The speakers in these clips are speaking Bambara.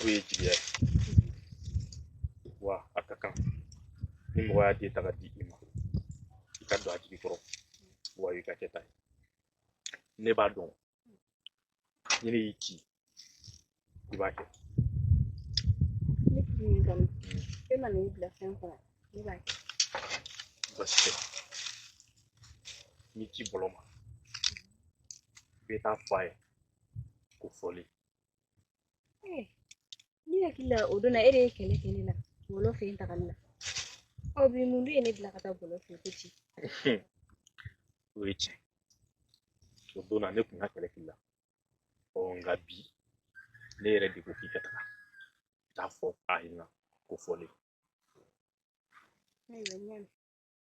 o ye jigiya ye wa a ka kan ni mɔgɔ y'a den ta ka di i ma i ka don a jigi kɔrɔ wa i ka kɛ ta ye ne b'a dɔn ni ne y'i ci i b'a kɛ ne tigi y'i kanu e ma n'i bila fɛn kɔnɔ ne b'a kɛ basi tɛ n'i ci bɔlɔ ma i bɛ taa fɔ a ye ko fɔli Eh, ne hakili la o don na e de ye kɛlɛ kɛ ne la bɔlɔ fɛ yen tagali la ɔ bi mun de ye ne bila ka taa bɔlɔ fɛ ko ci o ye tiɲɛ o don na ne tun ka kɛlɛ k'i la ɔ nka bi ne yɛrɛ de ko k'i ka taga k'a fɔ a ɲɛna ko fɔlen ayiwa n y'a mɛn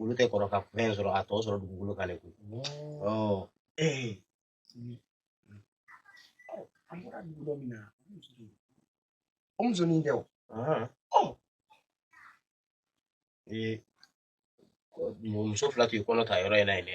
olu tɛ kɔrɔ ka fɛn sɔrɔ a tɔ sɔrɔ dugukolo kan de koyi ɔ ee an bɔra dugu dɔ min na o musonin tɛ o ee muso fila tun ye kɔnɔ ta yɔrɔ in na yen dɛ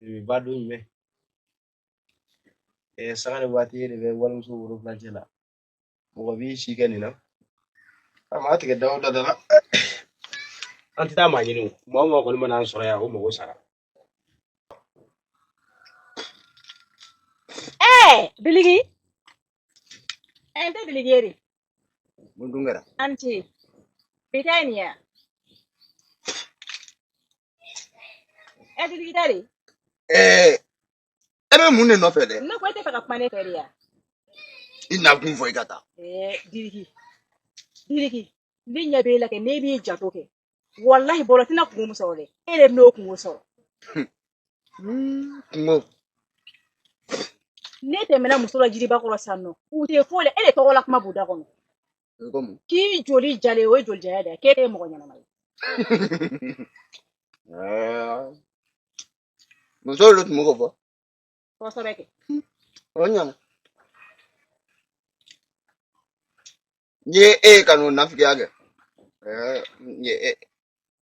de ba don jumɛn eh, sanga ni waati e de bɛ walimuso woro fila cɛ la mɔgɔ b'i si kɛ nin na a ma tigɛ da o da da la an tɛ taa maa ɲini o maa o maa kɔni mana an sɔrɔ yan o mago sara ɛɛ biliki ɛɛ n tɛ biliki ye de mun dun kɛra anti bi ta ye nin ye wa? ɛɛ diriki tari. e bɛ mun de nɔfɛ dɛ. ne ko e t'a fɛ ka kuma ne fɛ de ya. i nakun fɔ i ka taa. ɛɛ diriki diriki ne ɲɛ b'e la kɛ n'e b'i janto kɛ walahi bɔlɔ tɛna kunko min sɔrɔ dɛ e de bɛna o kunko sɔrɔ. kunko. ne tɛmɛna musow la jiriba kɔrɔ sisan nɔ u tɛ foyi la e de tɔgɔ la kuma b'u da kɔnɔ. k'i joli jalen o ye joli jaya de ye k'e tɛ mɔgɔ ɲɛnama ye musow de tun bɛ k'o fɔ kosɛbɛ kɛ o ɲana n ye e ka n'o nafigiya kɛ n ye e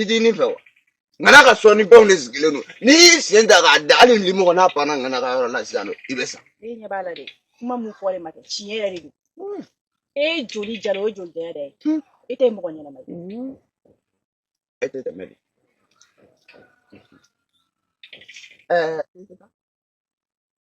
i t'i ni fɛ wa ŋana ka sɔnni fɛnw de sigilen don n'i y'i sen ta k'a da hali limɔgɔ n'a panna ŋana ka yɔrɔ la sisan nɔ i bɛ sa e ɲɛ b'a la dɛ kuma min fɔlen ma kɛ tiɲɛ yɛrɛ de don e joli jala o ye joli jaya dɛ e tɛ mɔgɔ ɲɛnama ye e tɛ tɛmɛ de ɛɛ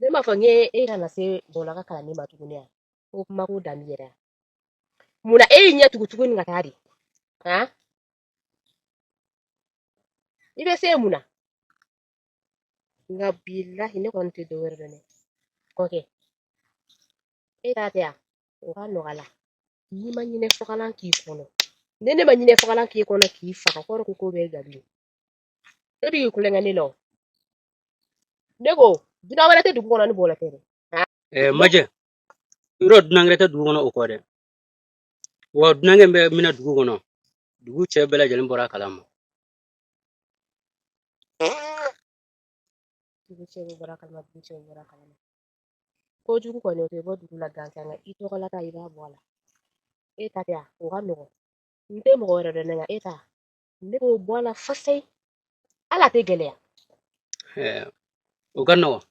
ne m'a fɔ i ye e kana se bɔlɔ ka kalanni ma tuguni yan ko kuma ko dan b'i yɛrɛ mun na e y'i ɲɛ tugu tuguni ka taa de han i bɛ se mun na nka bilahi ne kɔni tɛ dɔ wɛrɛ dɔn dɛ kɔkɛ e ta tɛ yan o ka nɔgɔ la n'i ma ɲinɛ fagalan k'i kɔnɔ ni ne ma ɲinɛ fagalan k'i kɔnɔ k'i faga kɔrɔ ko ko bɛ gabi e b'i kulonkɛ ne la o ne ko dunan wɛrɛ tɛ dugu kɔnɔ ni bɔlɔ tɛ dɛ ɛɛ majɛ yɔrɔ dunan wɛrɛ tɛ dugu kɔnɔ o kɔ dɛ wa dunankɛ bɛ minɛ dugu kɔnɔ dugu cɛ bɛɛ lajɛlen bɔra a kalama dugu cɛ bɛɛ bɔra a kalama dugu cɛ bɛɛ bɔra a kalama kojugu kɔni o tɛ bɔ dugu la gansan nka i tɔgɔla ta i b'a bɔ a la e ta tɛ yan o ka nɔgɔn n tɛ mɔgɔ wɛrɛ dɔn ne nka e ta ne b'o bɔ a la fasayi hali a tɛ gɛlɛya o ka nɔgɔn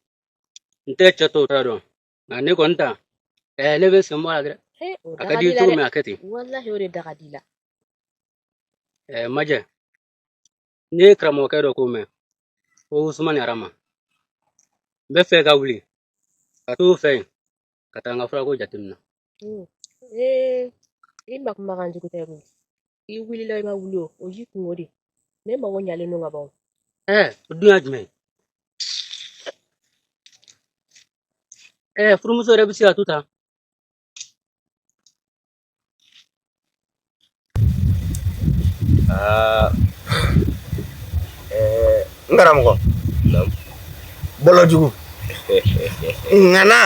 n tɛ cɛ tɔw ta dɔn nka ne kɔni ta ne bɛ sen bɔ a la dɛ a ka di i cogo min a kɛ ten walahi o de da ka di la majɛ ne ye karamɔgɔkɛ dɔ ko mɛn ko usumani arama n bɛ fɛ ka wuli ka t'o fɛ yen ka taa n ka furako jateminɛ i ma kumakan jugu tɛ koyi i wulila i ma wuli o o y'i kunko de ne mago ɲalen don ka ban o ɛɛ o dun y'a jumɛn ye ɛɛ furumuso yɛrɛ bɛ se ka to tan aa ɛɛ n karamɔgɔ Naamu. bɔlɔ jugu ŋana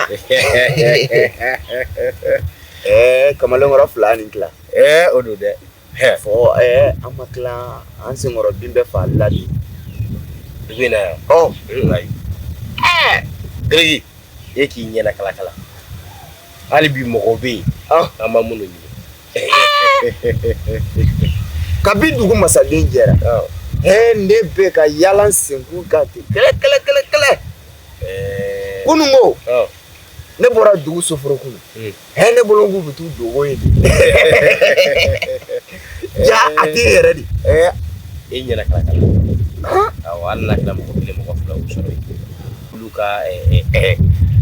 ɛɛ kamalenkɔrɔ fila ni tila Ɛɛ o don dɛ fɔ an ma tila an senkɔrɔ bin bɛɛ faali la de i bɛ yan ɛɛ e k'i ɲɛna kalakala hali bi mɔgɔw bɛ yen an ma minnu ɲini kabi dugu masaden jɛra ɛ ne bɛ ka yaala senkun kan ten kɛlɛ kɛlɛ kɛlɛ kɛlɛ kunun ko ne bɔra dugu soforokun Hɛ ne bolo k'u bɛ t'u dogo yen ja a tɛ yɛrɛ de e ɲɛna kalakala awɔ hali n'a kɛra mɔgɔ kelen mɔgɔ fila sɔrɔ olu ka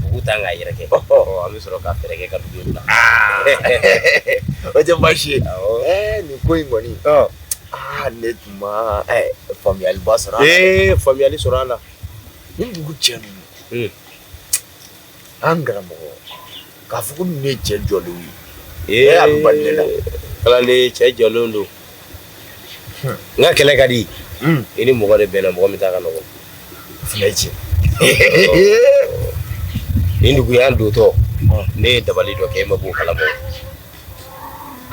dugu t'an k'a yɛrɛ kɛ an bɛ sɔrɔ ka fɛɛrɛ kɛ ka dugu bila o tɛ baasi ye nin ko in kɔni aa ne tun ma faamuyaliba sɔrɔ faamuyali sɔrɔ a la nin dugu cɛ ninnu An karamɔgɔ k'a fɔ ko ninnu ye cɛ jɔlenw ye, ee a bɛ bali ne la, kalanden cɛ jɔlenw don, hun, nka kɛlɛ ka di, un, i ni mɔgɔ de bɛnna mɔgɔ min ta ka nɔgɔn, o fana ye tiɲɛ ye, nin dugu in an dontɔ ne ye dabali dɔ kɛ e ma bɔ o kalama o,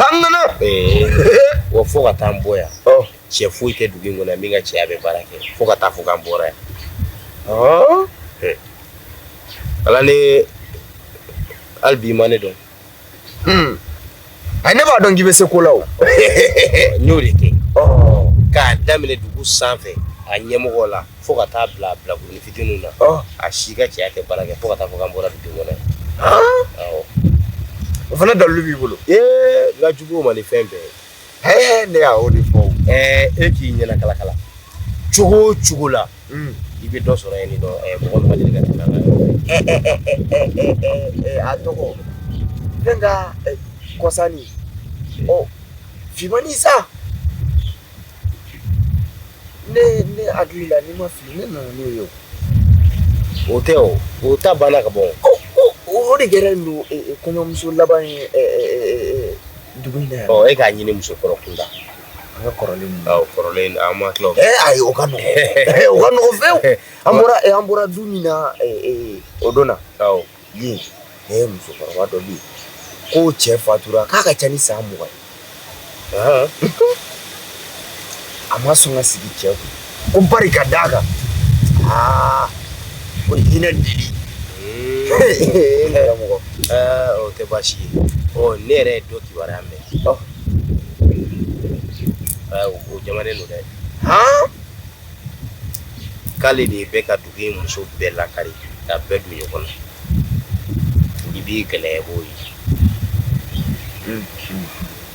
an nana, ee, wa fo ka t'an bɔ yan cɛ foyi tɛ dugu in kɔnɔ min ka cɛya bɛ baara kɛ fo ka taa fɔ k'an bɔra yan ala ne hali bi ma ne dɔn hmm. a ne b'a dɔn k'i bɛ se ko la o n y'o de kɛ k'a daminɛ dugu sanfɛ a ɲɛmɔgɔ la fo ka taa bila bilakoronin fitininw na a si ka cɛya tɛ baara kɛ fo ka taa fɔ k'an bɔra dugu kɔnɔ o fana dalilu b'i bolo ee n ka jugu o ma ni fɛn bɛɛ ye Hɛɛ ne y'o de fɔ e k'i ɲɛna kalakala cogo o cogo la i bɛ dɔ sɔrɔ yen dɔn mɔgɔ ka deli ka tɛmɛ a tɔgɔ ne ka kɔsannin ɔ fimani sa ne ne hakili la ni n ma fili ne nana n'o ye o tɛ o o ta banna ka bɔ o de kɛra don kɔɲɔmuso laban ye dugu in na yan. Ɔ e k'a ɲini musokɔrɔ kunda. An ka kɔrɔlen ninnu. Awɔ kɔrɔlen in an ma tila o. Ee ayi o ka nɔgɔ. o ka nɔgɔ fewu. An bɔra an bɔra du min na o don na. Awɔ. Yen ee musokɔrɔba dɔ bɛ yen k'o cɛ fatura k'a ka ca ni san mugan ye. Ahan. a ma sɔn ka sigi cɛ kun ko bari ka d'a kan aa ko hinɛ deli karamɔgɔ o tɛ baasi ye ne yɛrɛ ye dɔ kibaruya mɛn o jamanen don dɛ k'ale de bɛ ka dugu in muso bɛɛ lakari ka bɛɛ don ɲɔgɔn na i b'i gɛlɛya b'o ye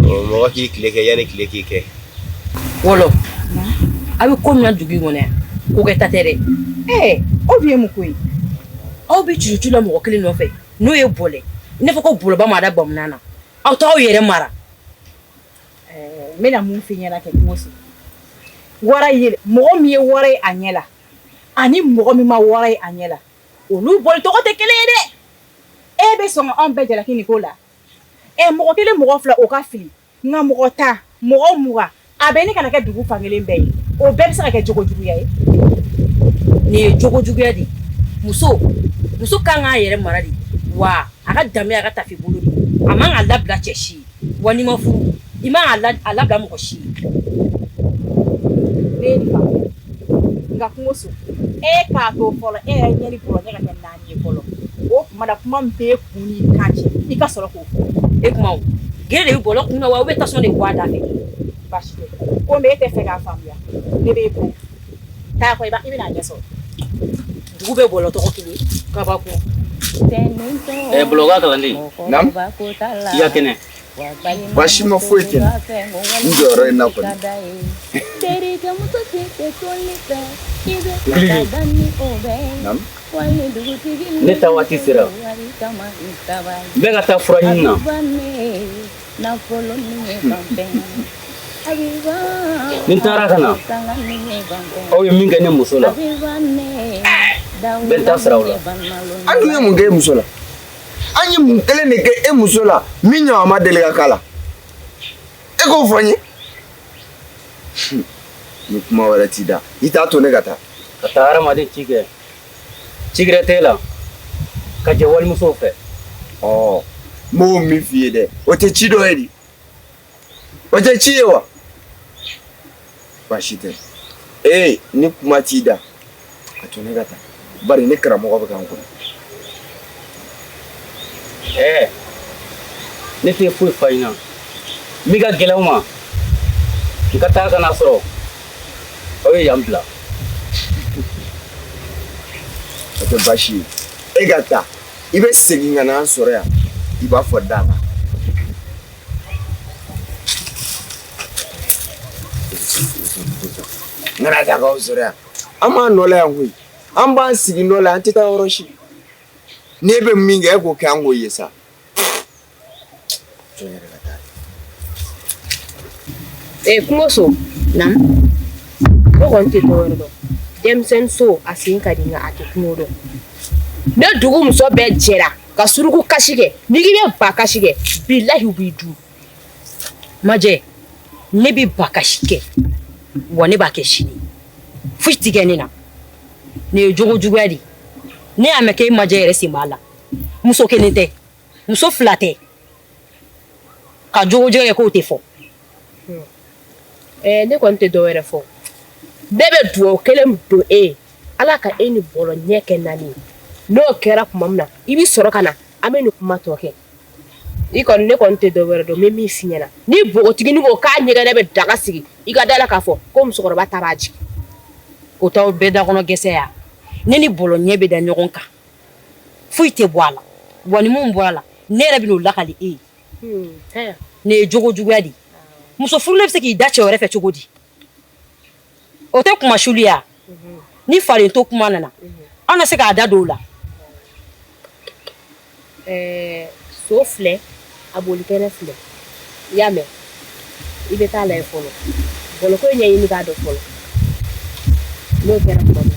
Mɔgɔ k'i tile kɛ yanni tile k'i kɛ wɔlɔ a bɛ ko min na dugu in kɔnɔ yan ko kɛta tɛ dɛ ɛɛ aw bɛ ye mun ko ye aw bɛ cucu la mɔgɔ kelen nɔfɛ n'o ye bɔlen i n'a fɔ ko woloba m'a da bamunan na aw t'aw yɛrɛ mara n bɛna mun f'i ɲɛna kɛ kungo wara ye mɔgɔ min ye wara ye a ɲɛ la ani mɔgɔ min ma wara ye a ɲɛ la olu bolicogo tɛ kelen ye dɛ e bɛ sɔn anw bɛɛ jalaki nin ko la ɛ mɔgɔ kelen mɔgɔ fila o ka fili nka mɔgɔ tan mɔgɔ mugan a bɛ ɲini ka na kɛ dugu fan kelen bɛɛ ye o bɛɛ bɛ se ka kɛ jogo juguya ye nin ye jogo juguya de ye muso muso ka kan k'a yɛrɛ mara de wa a ka danbe a ka taafe bolo de a man ka labila cɛ si ye wa n'i ma furu i man ka la- a labila mɔgɔ si ye ne ye nin faamuya nka kungoso e k'a to fɔlɔ e yɛrɛ ɲɛ ni bɔrɔ ɲɛ ka kɛ naani O tuma na kuma min b'i kun n'i kan cɛ i ka sɔrɔ k'o fɔ e kuma gere de bolo kun na wa u bɛ tasɔn de bɔ a da fɛ baasi tɛ komi e tɛ fɛ k'a faamuya ne bɛ ko taa i bɛna a ɲɛ sɔrɔ dugu bɛ bolo tɔgɔ kelen kabako bolo kalanden i ka kɛnɛ Baasi ma foyi kɛ n jɔyɔrɔ in na kɔni ne ta waati sera n bɛ ka taa fura ɲini na ni n taara ka na aw ye min kɛ ne muso la n bɛ n ta sara aw la an dun ye mun kɛ e muso la an ye mun kelen de kɛ e muso la min ɲɔgɔn ma deli ka k'a la e k'o fɔ n ye ni kuma wɛrɛ t'i da i t'a to ne ka taa ka taa hadamaden ci kɛ ci gɛrɛ t'e la ka jɛ walimusow fɛ ɔ n b'o min f'i ye dɛ o tɛ ci dɔ ye di O tɛ ci ye wa. Baasi tɛ Eh, ni kuma t'i da. A to ne ka taa. Bari ne karamɔgɔ bɛ ka n kɔnɔ. Eh. Ne tɛ foyi fa ɲina. Min ka gɛlɛn n ma. N ka taa ka n'a sɔrɔ. Aw ye yan bila. O tɛ baasi ye. E ka taa. I bɛ segin ka na an sɔrɔ yan. I b'a fɔ da la. N kana taa k'aw sɔrɔ yan an b'an nɔ la yan koyi an b'an sigi nɔ la an tɛ taa yɔrɔ si n'e bɛ min kɛ e k'o kɛ an k'o ye sa ee kungoso naamu ne kɔni tɛ dɔwɛrɛ dɔn denmisɛnnin so a sen ka di nka a tɛ kungo dɔn ni dugu muso bɛɛ jɛra ka suruku kasi kɛ n'i k'i bɛ ba kasi kɛ bilahi u b'i dun majɛ ne bɛ ba kasi kɛ wa ne b'a kɛ sini foyi ti kɛ ne na nin ye jogo juguya de ne y'a mɛn k'e majɛ yɛrɛ sen b'a la muso kelen tɛ muso fila tɛ ka jogo juguya kɛ k'o tɛ fɔ Ɛɛ ne kɔni tɛ dɔ wɛrɛ fɔ ne bɛ dugawu kelen don e ye ala ka e ni bɔlɔ ɲɛ kɛ naani ye n'o kɛra tuma min na i bɛ sɔrɔ ka na an bɛ nin kuma tɔ kɛ ne kɔni tɛ dɔ wɛrɛ dɔn n bɛ min f'i ɲɛna ni npogotiginin ko k'a ɲɛgɛnɛ bɛ daga sigi i ka da a la k'a fɔ ko musokɔrɔba ta b'a jigin o tɛ bɛɛ da kɔnɔ gɛsɛ ye ne ni bɔlɔ ɲɛ bɛ da ɲɔgɔn kan foyi tɛ bɔ a la wa ni min bɔra a la ne yɛrɛ bɛ n'o lakali e ye nin ye jogo juguya de ye muso furulen bɛ se k'i da cɛ wɛrɛ fɛ cogo di o tɛ kuma suli ya ni falen to kuma nana an na se k'a da don o la so filɛ a bolikɛnɛ filɛ i y'a mɛn i bɛ taa lajɛ fɔlɔ bɔlɔko ɲɛɲini k'a dɔn fɔlɔ n'o kɛra tuma min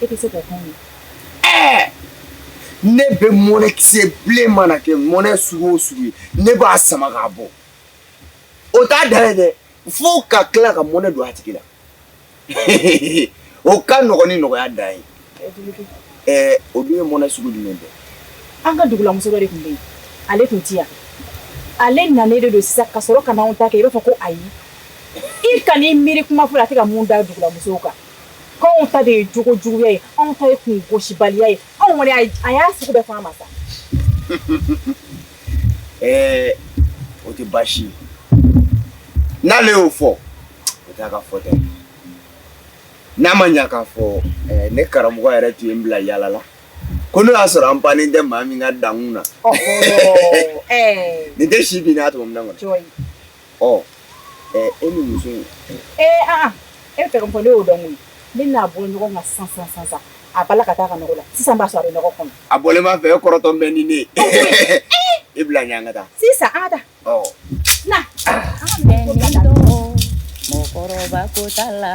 E tɛ se k'o kɛ mun? Ɛɛ! Ne bɛ mɔnɛkisɛ bilen mana kɛ mɔnɛ sugu o sugu ye, ne b'a sama k'a bɔ. O t'a dan ye dɛ, fo ka tila ka mɔnɛ don a tigi la. Hehehehe, o ka nɔgɔn ni nɔgɔya dan ye. Ɛɛ o dun ye mɔnɛ sugu jumɛn dɛ? An ka dugulamuso dɔ de tun bɛ yen, ale tun tɛ yan. Ale nanen de don sisan ka sɔrɔ ka na anw ta kɛ i b'a fɔ ko ayi. I kan'i miiri kuma foyi la, a tɛ ka mun da dugulamusow kan. Anw ta de ye jogo juguya ye anw ta ye kun gosibaliya ye anw kɔni a y'a sugu bɛɛ fɔ an ma sa ɛɛ o tɛ baasi ye n'ale y'o fɔ o t'a ka fɔta ye n'a ma ɲɛ k'a fɔ ne karamɔgɔ yɛrɛ tun ye n bila yaala la ko n'o y'a sɔrɔ an bannen tɛ maa min ka dankun na nin tɛ si bin n'a tɔmɔ min kɔnɔ ɔ ɛɛ e ni muso in. ee aa e bɛ fɛ ka min fɔ ne y'o dɔn koyi ne n'a bɔ ɲɔgɔn kan sisan sisan sisan sisan a bala ka taa a ka nɔgɔ la sisan b'a sɔrɔ a bɛ nɔgɔ kɔnɔ. a bɔlen b'a fɛ e kɔrɔtɔlen bɛ ni ne ye. i bila ɲɛ an ka taa. sisan an ka taa. ɔ. na. mɔgɔkɔrɔba ko t'a la.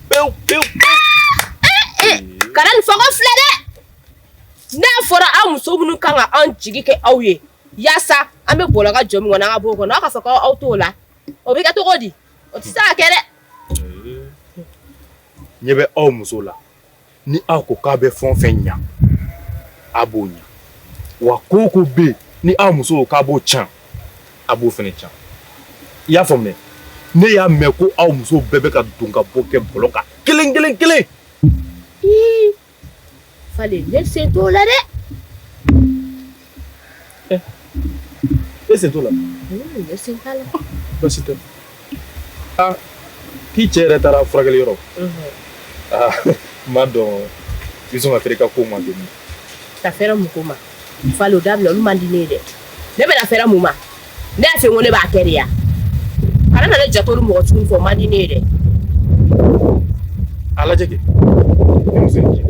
pewu pewu kana nin fɔ ko fila dɛ n'a fɔra aw muso minnu kan ka anw jigi kɛ aw ye yaasa an bɛ bɔlɔ ka jɔ min kɔnɔ an ka b'o kɔnɔ aw ka fɔ ko aw t'o la o bɛ kɛ cogo di o tɛ se ka kɛ dɛ ɲɛ bɛ aw muso la ni aw ko k'a bɛ fɛn o fɛn ɲa a b'o ɲa wa ko o ko bɛ yen ni aw muso k'a b'o can a b'o fɛnɛ can i y'a faamuya ne y'a mɛn ko aw muso bɛɛ bɛ ka don ka bɔ kɛ bɔlɔ kan kelen kelen kelen fale ne sen t'o la dɛ E sen t'o la basi tɛ aa k'i cɛ yɛrɛ taara furakɛli yɔrɔ aa n b'a dɔn i bɛ sɔn ka fɛrɛ i ka ko ma dɔɔni ka fɛrɛ mun ko ma fale o dabila olu man di ne ye dɛ ne bɛna fɛrɛ mun ma ne y'a fɔ ko ne b'a kɛ de ya kana na ne jato ni mɔgɔ sugu fɔ o man di ne ye dɛ a lajɛ kɛ ni muso in cɛ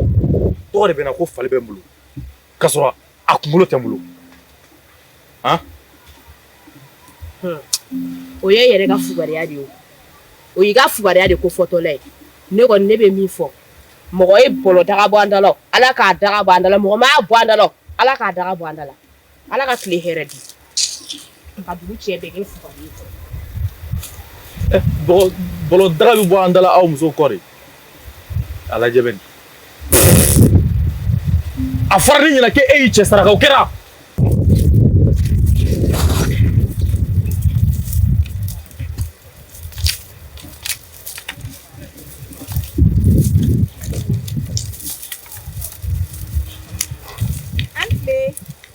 tɔgɔ de bɛ n na ko fali bɛ n bolo K'a sɔrɔ a kunkolo tɛ n bolo han o y'e yɛrɛ ka fugariya de ye o o y'i ka fugariya de ko fɔtɔla ye ne kɔni ne bɛ min fɔ mɔgɔ ye bɔlɔ daga bɔ an da la o Ala k'a daga bɔ an da la mɔgɔ m'a bɔ an da la o Ala k'a daga bɔ an da la Ala ka tile hɛrɛ di Ka dugu cɛ bɛɛ kɛ fugari ye. Ɛ bɔlɔ bɔlɔ daga bɛ bɔ an da la aw musow kɔ de. A lajɛ bani. A fɔra ne ɲɛna ko e y'i cɛ saraka, o kɛra?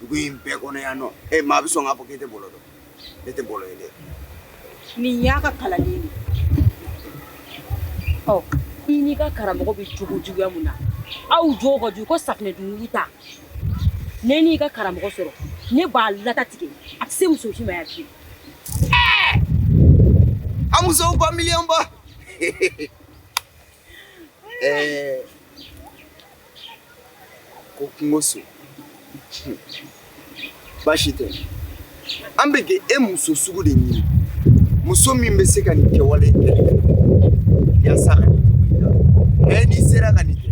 dugu in bɛɛ kɔnɔ yan nɔ e maa bɛ sɔn k'a fɔ k'e tɛ bɔlɔ dɔn ne tɛ bɔlɔ ye dɛ nin y'a ka kalanden de ye i n'i ka karamɔgɔ bɛ jogo juguya mun na aw jogo ka jugu ko safinɛ dunkulu ta ne n'i ka karamɔgɔ sɔrɔ ne b'a lata tigɛ a tɛ se muso si ma yan bilen a musow ba miliyɔn ba ɛɛ ko kungoso baasi tɛ an bɛ ka e muso sugu de ɲini muso min bɛ se ka nin kɛwale kɛ yaasa ka nin cogo in n'i sera ka nin kɛ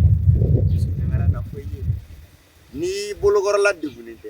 n'i bolokɔrɔla degunnen tɛ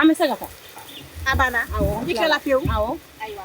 an bɛ se ka taa a banna awɔ i kɛla pewu awɔ ayiwa